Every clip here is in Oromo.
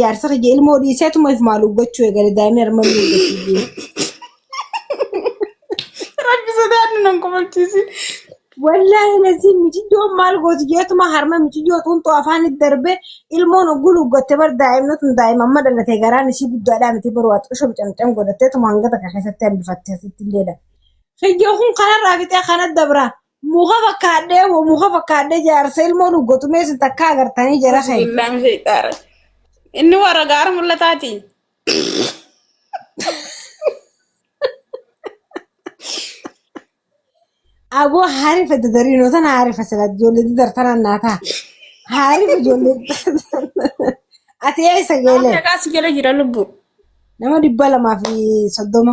jaarsa kiyya ilmoo dhiiseetuma if maal uggachuu eegale daa'imni harma inni uggachuu Rabbi sodaadhu nan kofalchiisin. Wallaahi lazii miciyyoon maal gooti jeetuma harma miciyyoo xuuxxoo afaan itti darbee ilmoon ogguu luggatte bar daa'imni tun daa'ima amma dhalate garaan isii guddaadhaa miti baruu ati qosho camcam godhatteetuma hanga takka keessatti hambifattee asitti illeedha. Kiyyoo kun kanarraa fixee kana dabraa. Muka fakkaadhee moo muka fakkaadhee jaarsa ilmoo nu gotumee sin takka agartanii jara kee. Bismillaan sheexaara. Inni warra gaara mul'ataati. Aboo haarifa dadarii noo tana haarifa sila ijoollee dadar tana naa ta'a. Haarifa ijoollee dadar. Ati eessa Nama geelee? meeqaa si jala jira lubbuu? Nama dhibba lamaa fi soddoma.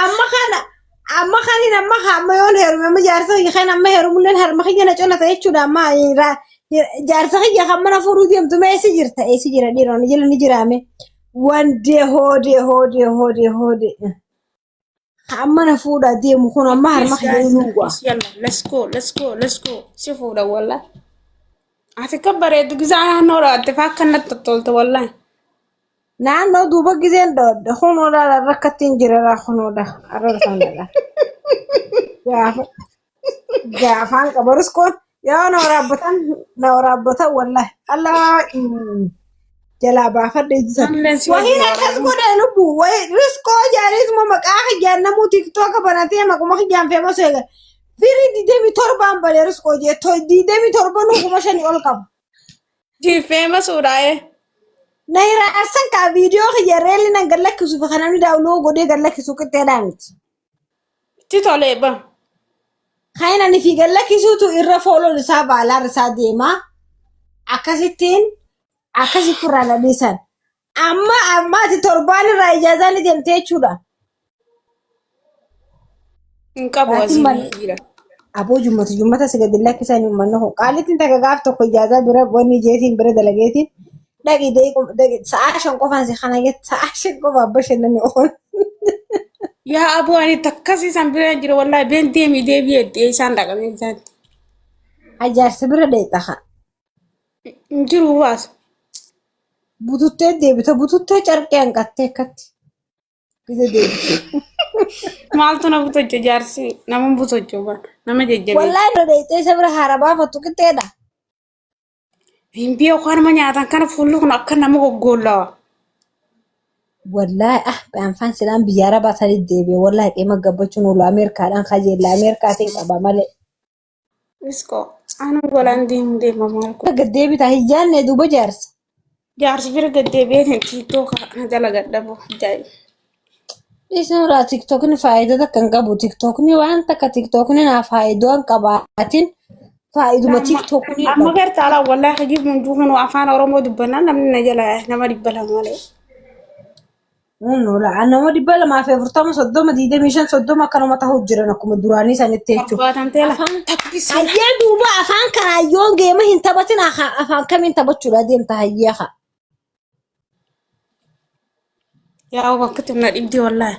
Amma kana amma kanin amma ka- amma yoon heerume amma jaarsa kiyya kan amma heerumulleen harma kiyya na colata jechuudha amma eh, ra- eh, jaarsa kiyya kan mana fuudhuu deemtu mee eessi jirta eessi jira dhiiroo ni jira ni jiraame wandee hoodee hoodee hoodee hoodee ka amma na fuudhaa deemu kun amma harma Please kiyya guys, ni duwwaa. please yalla, let's go, let's go, let's go. Si fuudha wallah. Ati kan bareedu gisaa naannoo irraa ati faa akkanatti tottolta wallah. Naannoo duuba gizeen dhoodha. Kunoo laala rakkattiin jirara kunoo da arraba sana dha. Gaafa gaafaan qabarus kun yoo na waraabbatan na waraabbatan wallahi allaa mm, jalaa baafadha ittisa. Amnes yoo Wahiin jiraatu. akkas godhe lubbu wahi riskoo jaariisuma maqaa kiyyaan namuu tiktooka banatee maquma kiyyaan feemas eega. Firii digdamii torbaan badee riskoo jee digdamii torbanuu kuma shanii ol qaba. Diifeema suudhaa'ee. Na irraa arsan kaa viidiyoo kiyya reelli nan gad lakkisuuf kan namni daawuloo godhee gad lakkisu qixxeedhaa miti. Itti tolee ba. Kan inni ani fi gad lakkisuutu irra fooloon isaa baalaar isaa deema. Akkasittiin akkasitti irraa na dhiisan. Amma ammaati torbaan irraa ijaazaa ni deemte jechuudha. Hin qabu Maatiin asii mana- jira. Aboo jummatu jummata si gadi lakkisan uummanni kun qaalittiin takka gaaf tokko ijaazaa bira wanni jeetiin bira dalageetiin dhaqi deequ- deeqi- sa'aa shan qofaan si kana jette sa'aa shan qofa abba shannani ool. Yaa aboo ani takkas isaan bira jira wallahi been deemi deebi'e itti isaan dhaqanii isaatti. Ajaarsa bira deeqa haa. Hin jiru baas. Bututtee deebita. Bututtee carqee hanqattee akkatti. Gide deebite. Maaltu na butocha jaarsi nama butocha bara nama jajjabeessa. Wallaahi irra deebitee isa bira haara baafattu qixxeedha. Hin biyya koo nama nyaatan kana fuulli kun akka nama goggoollawa. Wallaahi ah baanfaan silaan biyya arabaa sanii deebi'e. Wallaahi qeema gabbachuun oolu Ameerikaadhaan kajeella. Ameerikaatiin qaba malee. Isko aanan golaan deemu deema maal kun. Gad deebitaa hin jaanne duuba jaarsa. Jaarsi bira gad deebi'ee kan tiiktoo kana dalagadha boo daa'ima. Dhiisni irraa tiktookni faayidaa takka hin qabu. Tiktookni waan takka tiktookni naa faayidaa hin qabaatin faayiduma tiktookni Amma qabu. gartaa laa wallaahi hojii hunduu kun afaan Oromoo dubbannaan namni na jala nama dhibba lama malee. Nola nama dhibba lamaa fi afurtama soddoma digdamii shan soddoma akkanuma ta'uu jiran akkuma duraanii sanitti jechuudha. Abbaataan teela. Afaan tabbisee. Hayyee duuba afaan kanaa yoo geema hin taphatin haa- afaan kamiin taphachuudha deemta hayyee haa. Yaa bakka tunna dhibdi wallaahi.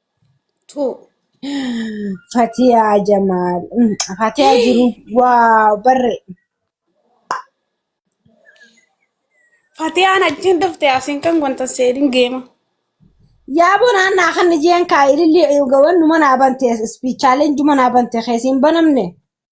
Tuu. Fatiyaa Jamaal. Mm, Fatiyaa jiru. Waaw barre. Fatiyaan achiin dhufte asiin kan wanta seedin geema. Yaa bonaan naa kan jeen kaa ililli gawan numa naa bante ispiichaaleen juma naa bante keessiin banamne.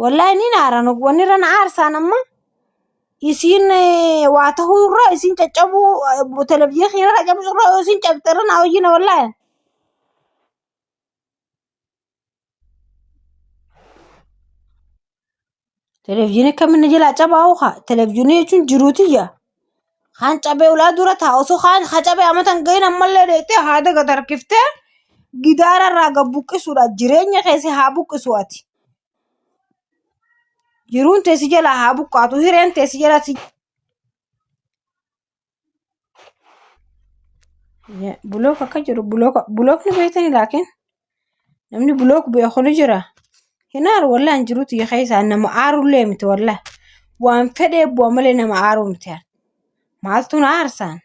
Wallaahi ni naaran wanni irra na aarsaan amma isiin eh, waa tahuu irra isiin caccabuu eh, televizyiinii keenya irra cabsuu irra yoo isiin cabxee irra na hoyyina wallaahi. Televizyiinii akkamin na jalaa cabaa hoo kaa televizyiinii jechuun jiruutiyya. Kan cabee ulaa dura taa osoo kaan ha cabee amata hin gahin ammallee deettee haada gad harkiftee gidaara irraa gad buqqisuudha jireenya keessi haa buqqisu ati jiruun tee si jalaa haa buqqaatu hireen tee si jalaa si bulook akka jedhu bulook bulookni beektanii laakiin namni block bu'e kun jira hin aaru wallah hin jirutu ya keessaa nama aarullee miti wallah waan fedhee bu'a malee nama aaruu miti ani. maaltu na aarsaan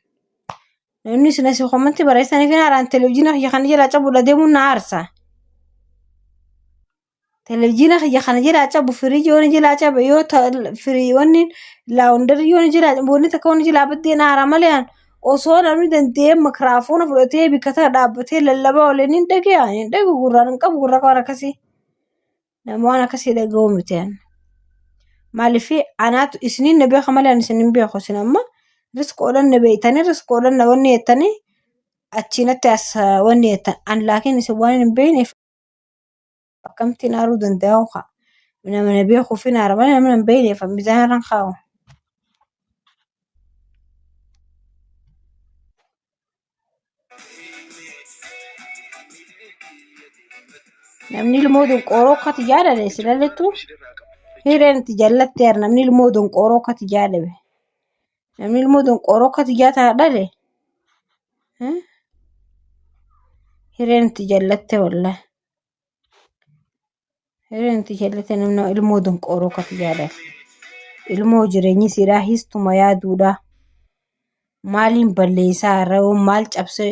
namni isin asii komanti barreessaniif hin aaraan televizyiina kiyya kana jalaa cabuudha deemuun na aarsaa Televizyiina kiyya kana jilaa cabu firii yoon jilaa cabe yoo ta firii yoon laawundarii yoon jilaa boonni takka yoon jilaa baddeen aara malee an osoo namni danda'ee makiraafoona fudhatee bikka tana dhaabbatee lallabaa olee nin dhagaya hin dhagu gurraan hin qabu gurra waan akkasii nama waan akkasii dhaga'uu miti an. Maaliif anaatu isiniin na beeka malee an isin hin beeku isin amma riskoodhaan na beektanii riskoodhaan na wanni jettanii achiinatti as wanni jettan an laakiin isin waan hin beekneef Akkamtiin aaruu danda'u kaa. Nama na beeku fi naara malee nama hin beekne fa mizaana irraan kaa'u. Namni ilmoo donqooroo akkati jaalale si lalettu hireen itti jallatte yaa namni ilmoo donqooroo akkati jaalale. Namni ilmoo donqooroo akka tiyyaa tana dhale eh, hireen itti jallatte wallah. Hireen itti jallatte namni ilmoo donqooroo akka tiyyaa dhale. Ilmoo jireenyi siidhaa histuma yaaduudhaa. Maaliin balleessaa irra yoo maal cabsee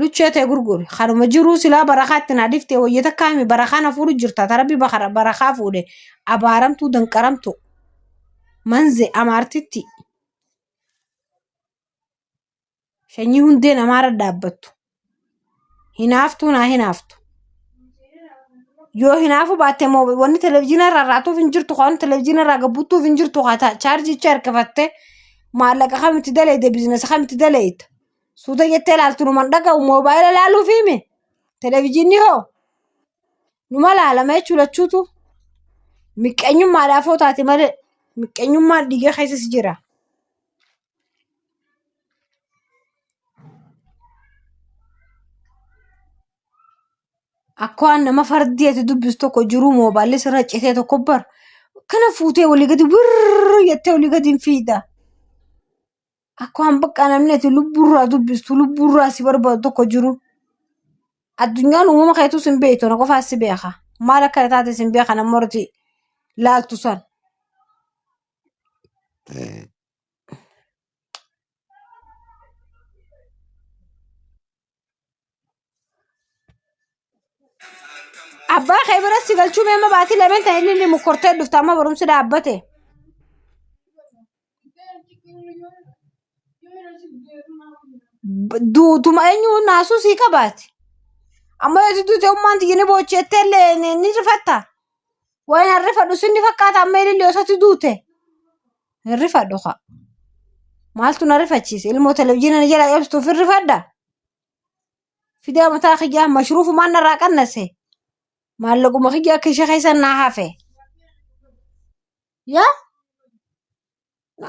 luchee tee gurguri kanuma jiruu silaa barakaa itti naa dhiftee wayya takkaa himi barakaa na fuudhu jirta ta rabbi bakara barakaa fuudhe abaaramtuu danqaramtu manze amaartitti Shanyii hundee namaarra dhaabbattu. Hinaaftuu naa hinaaftu. Yoo hinaafuu baatte immoo wanni televizyiina irraa raatuuf hin jirtu kan televizyiina irraa gabbuttuuf hin jirtu kan chaarjicha harkifattee maallaqa kam itti daleeyde biizinasa kam itti daleeyda. Suuta jettee ilaaltu numan dhaga'u moobaayila ilaaluuf hime televizyiinni hoo numa laalama jechuu lachuutu miqqeenyummaadhaaf hoo taate malee miqqeenyummaan dhiiga keessas jira. Akkoo nama fardii ati dubbistu tokko jiruu moobaalli sirra citee tokko bar kana fuutee walii gadi wirri jettee walii gadi hin fiida. Akkaan bakka namni ati lubbuurraa dubbistu lubbuurraa si barbaadu tokko jiru. Addunyaan uumama keetus hin beektu na qofaa si beeka. Maal akka taates hin beeka namni irratti laaltu san. Abbaa kee biratti si galchuu mee amma baatii lameen ta'e inni inni mukkortee dhufte amma barumsi dhaabbate. B- Duutuma eenyu naasuu sii qabaati. Amma yoo duute ummaan tiyya ni boocheettee illee ni ni rifatta. Waan harrifadhu sin ni fakkaata amma ilillee osatti duute. Hin rifadhu kaa. Maaltu na rifachiise? Ilmoo televizyiina na jala cabsuuf hin rifadha? Fidaa mataa kiyyaa mashruufumaan narraa qannase. Maallaquma kiyya akka ishee keessa naa hafe. Yaa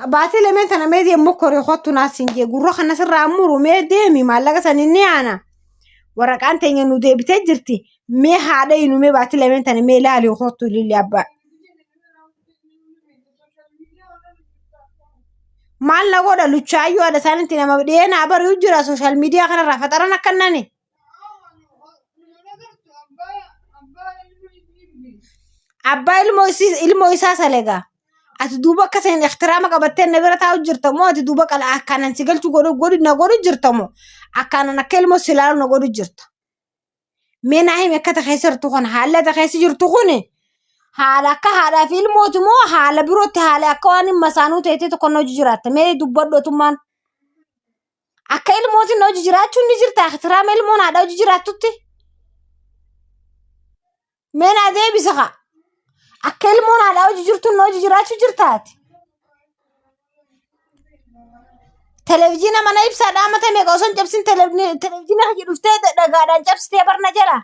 baatii lameen tana mee deemu mokkoree kottu naas hin jee gurra kana sirraa muru mee deemi maallaqa san hin dhiyaana. Waraqaan teenya nu deebitee jirti mee haadha inu mee baatii lameen tana mee ilaali kottu lilli abbaa. Maal na godha luchaayyuu haadha isaanitti nama dhiyee naa bari'u jira sooshaal miidiyaa kanarraa faxaran akka nani. Abbaa ilmoo isii ilmoo isaa salegaa. Ati duuba akka seen ihtiraama qabattee na bira taa'u jirta moo ati duuba qala akkaanan si galchu godhu godhu na godhu jirta moo akkaanan akka ilmoo si ilaalu na godhu jirta. Mee naa himi akka keessa jirtu kun haala ati keessa jirtu kun haala akka haadhaa fi ilmooti moo haala birootti haala akka waan hin masaanuu ta'etti tokko na hojii jiraatta mee dubbadhu otummaan akka ilmootiin na hojii jiraachuun ni jirta akitiraama ilmoon haadha hojii jiraattutti mee naa deebisa kaa akka ilmoon haadhaa hojii jirtuun na hojii jiraachuu jirtaati televizyiina mana ibsaa dhaamata meeqa osoo hin cabsin televni- televizyiina hojii dhuftee da- dhagaadhaan cabsitee barna jala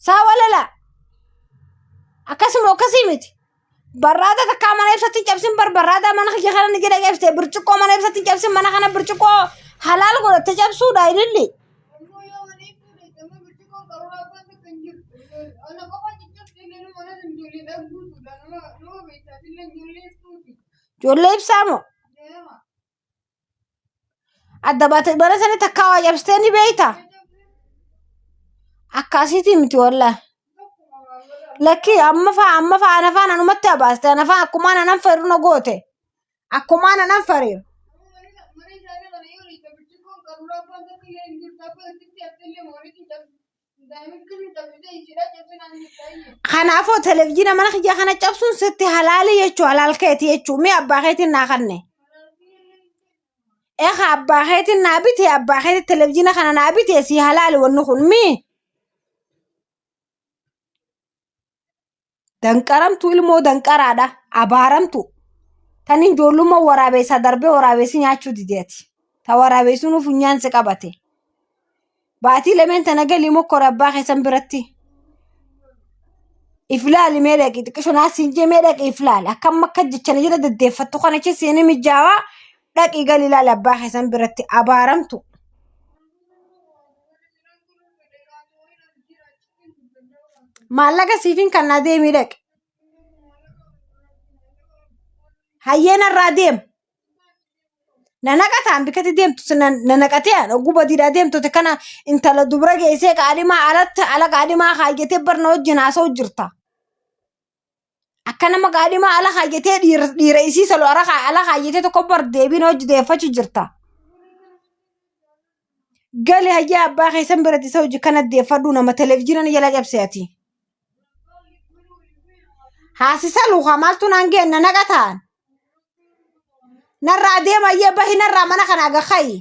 saa walala akkasuma akkasii miti barraada takkaa mana ibsatti hin cabsin bar barraada mana kiyya kana ni jedha cabsite birciqqoo mana ibsatti hin cabsin mana kana birciqqoo halaal godhatte cabsuudha ililli ijoollee ibsaa moo adda baate bara sana takkaa waa cabsitee ni beekta akkaasiitii miti wallaa lakkii amma faa amma faa ana faan anumatti abaaste ana faa akkumaan anan fariru na goote akkumaan anan fariru Kanaafuu televizyiina mana kiyya kana cabsuun sitti halaali jechuu halaal keeti jechuu mee abbaa keetiin naa kanne. Eka abbaa keetiin naa bite abbaa keetiin televizyiina kana naa bite si halaali wanni kun mii. Danqaramtu ilmoo danqaraadha. Abaaramtu. Tan hin joollummaa waraabeessaa darbee waraabeessi nyaachuu dideeti. Ta waraabeessuun funyaan si qabate. Baatii lameen tana galii mokkora abbaa keessan biratti. If laali mee dhaqi xiqqisho naa siin jee mee dhaqi if laali. Akkam akka jechana jira deddeeffattu kana achi seeni mijaawaa dhaqi galii laali abbaa keessan biratti abaaramtu. maallaqa siifin kan naa deemii dhaqe hayyee narraa deem na naqataan bikkatti deemtu si na- na naqatee an oguu badiidhaa deemtote kana intala dubra geessee qaadhimaa alatti ala qaadhimaa kaayyatee barna wajjin haasa'u jirta Akka nama qaadhimaa ala kaayyatee dhiira isii salu ala kaayyatee tokko bar deebiin hojii deeffachuu jirta. Gali hayyaa abbaa keessan biratti isa hojii kana deeffadhuu nama televezyiinaan jala cabse ati. Haasisa luukaa maaltu naan geenna naqa ta'an. Narraa deema ayyee bahi narraa mana kana aga ka'i.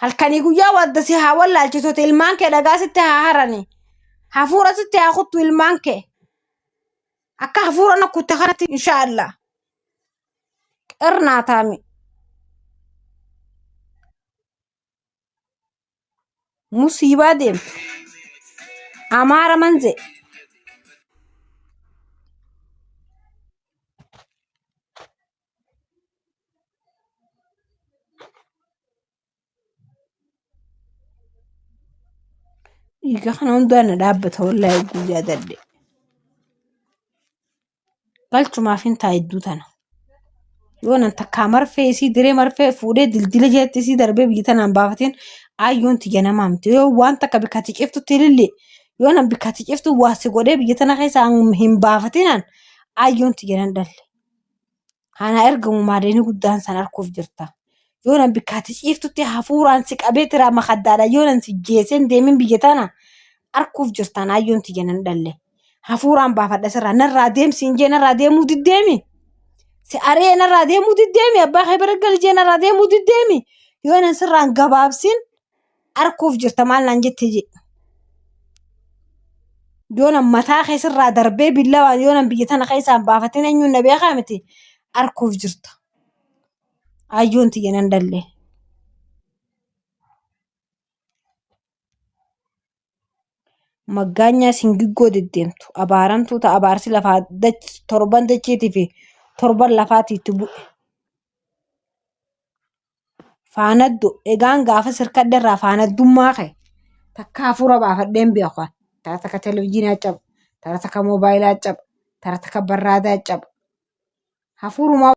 halkanii guyyaa wadda si haa wallaalchisuuti ilmaan kee dhagaa sitti haa harani hafuura sitti haa kuttu ilmaan kee akka hafuura na kutte kanatti inshaa allah qirnaa taami musiibaa deemtu amaara manze Dhiiga kana hundaa na dhaabbata wallaahi guyyaa dadde. Galchumaaf hin taa hedduu tana. Yoo nan takkaa marfee isii diree marfee fuudhee dildila jeetti isii darbee biyya tanaan baafateen ayyoon tiyya namaa miti. Yoo waan takka bikkatti ciftutti ilillee yoo nan bikkatti ciftu waa si godhee biyya tana keessa hin baafatinaan ayyoon tiyya nan dhalle. Anaa ergamu maadeenii guddaan san arguuf jirta. Yoo nan bikkaatti ciiftutti hafuuraan si qabee tiraa makaddaadha. Yoo nan si jeeseen deemin biyya tana arguuf jirtaan ayyoon tiyya nan dhalle. Hafuuraan baafadha sirraa narraa deemsi hin jee narraa deemuu diddeemi. Si ari'ee narraa deemuu diddeemi. Abbaa kee bira gali jee narraa deemuu diddeemi. Yoo nan sirraan gabaabsin Arkuuf jirta maal naan jette jee. Yoona mataa keessarraa darbee billawaan yoona biyya tana keessaan baafatin eenyuun na beekaa miti. Arkuuf jirta. Ayyoon tiyya nan dallee. Maggaanyaa singiggoo deddeemtu. Abaaramtuu ta'a abaarsi lafaa dach- torban dachiitii fi torban lafaatiitti bu'e. faanaddu egaan gaafas hirkadhe irraa faanaddummaa kee takka hafuura baafadheen beeku an tara takka televizhiinaa caba tara takka moobaayilaa caba tara takka barraadaa caba hafuurumaa